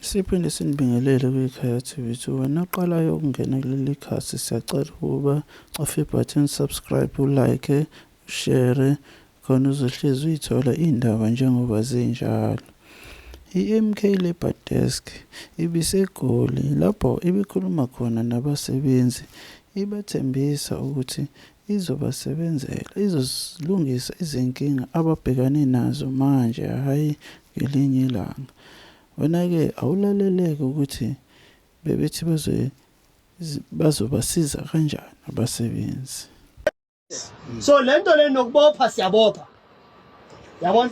Siphinde sinibingelele kwikhaya TV to wena oqalayo ukungena kuleli khasi siyacela ukuba cofe ibutton subscribe ulike share khona uzohlezi uyithola iy'ndaba njengoba zinjalo i-MK Labour Desk ibiseGoli lapho ibikhuluma khona nabasebenzi ibathembisa ukuthi Izobasebenzela, izozilungisa izinkinga ababhekane nazo manje, hhayi ngelinye ilanga. Wena-ke awulalele-ke ukuthi bebethi bazobasiza kanjani abasebenzi. So lento le nokubopha siyabopha. yabona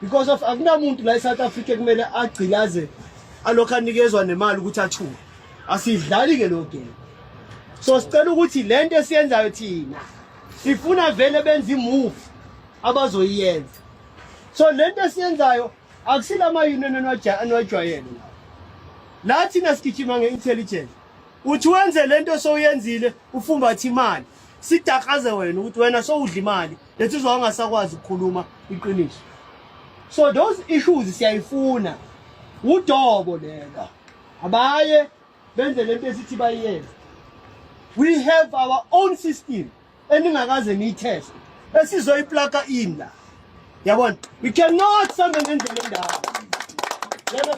because of akunamuntu la eSouth Africa kumele agcilaze alokho anikezwa nemali ukuthi athuke asidlali ke lo game so sicela ukuthi lento esiyenzayo thina sifuna vele benze imove abazoyiyenza so lento esiyenzayo akusilama union anwajwayele la thina sigijima nge-intelligence uthi wenze lento sowuyenzile ufumbathe imali sidakaze wena ukuthi wena sowudla imali lensizwa angasakwazi ukukhuluma iqiniso so those issues siyayifuna udobo lela abaye benze lento esithi bayiyenze we have our own system eningakaze niyitheste esizoyiplaka in la yabona we cannot sambe ngendlela endawo yabona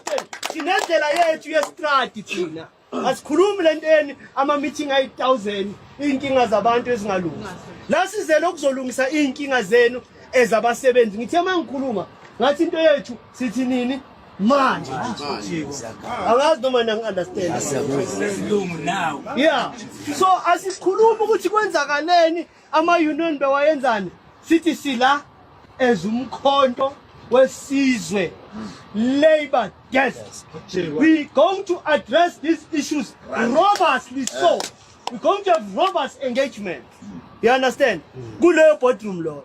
sinendlela yethu yestradi thina Asikhulumi lenteni ama meeting ayi 1000 inkinga zabantu ezingalungi. La sizele ukuzolungisa inkinga zenu ezabasebenzi. Ngithe mangikhuluma ngathi into yethu sithi nini manje angazi noma nangi-understand yeah so asikhulumi ukuthi kwenzakaleni Ama-union bewayenzani? Sithi sila as umkhonto wesizwe labor desk. We going to address these issues robustly so. We going to have robust engagement. You understand? Kuleyo boardroom lo.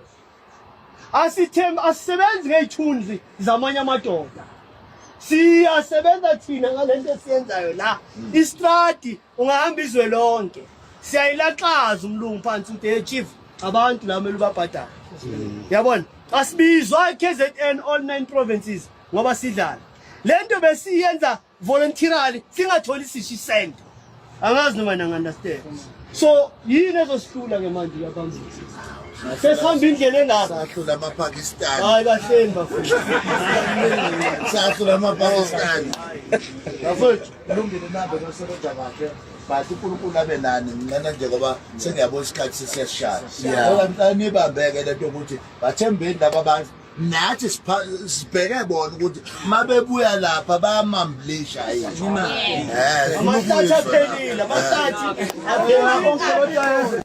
Asithem asisebenzi ngeyithunzi zamanye amadoda. Siyasebenza thina ngalento esiyenzayo la. Istrati ungahamba izwe lonke siyayilaxaza umlungu phansi ukuthi hey chief abantu la kumele ubabhadale mm. yabona asibizwa KZN all nine provinces ngoba sidlala lento besiyenza voluntarily singatholi sishi cent angazi noma nanga understand so yini ezosihlula ke manje yabantu sesihamba indlela engaka sahlula amapakistani hayi kahleni bafethu sahlula amapakistani bafethu kulungile nabo nosebenza kahle but unkulunkulu abe nani nginqena nje ngoba sengiyabona isikhathi sesiyashaya ngoba ngicela nibambeke le nto ukuthi bathembeni laba bantu nathi sibheke bona ukuthi uma bebuya lapha bayamambulisha yini amahlathi aphelile amahlathi aphelile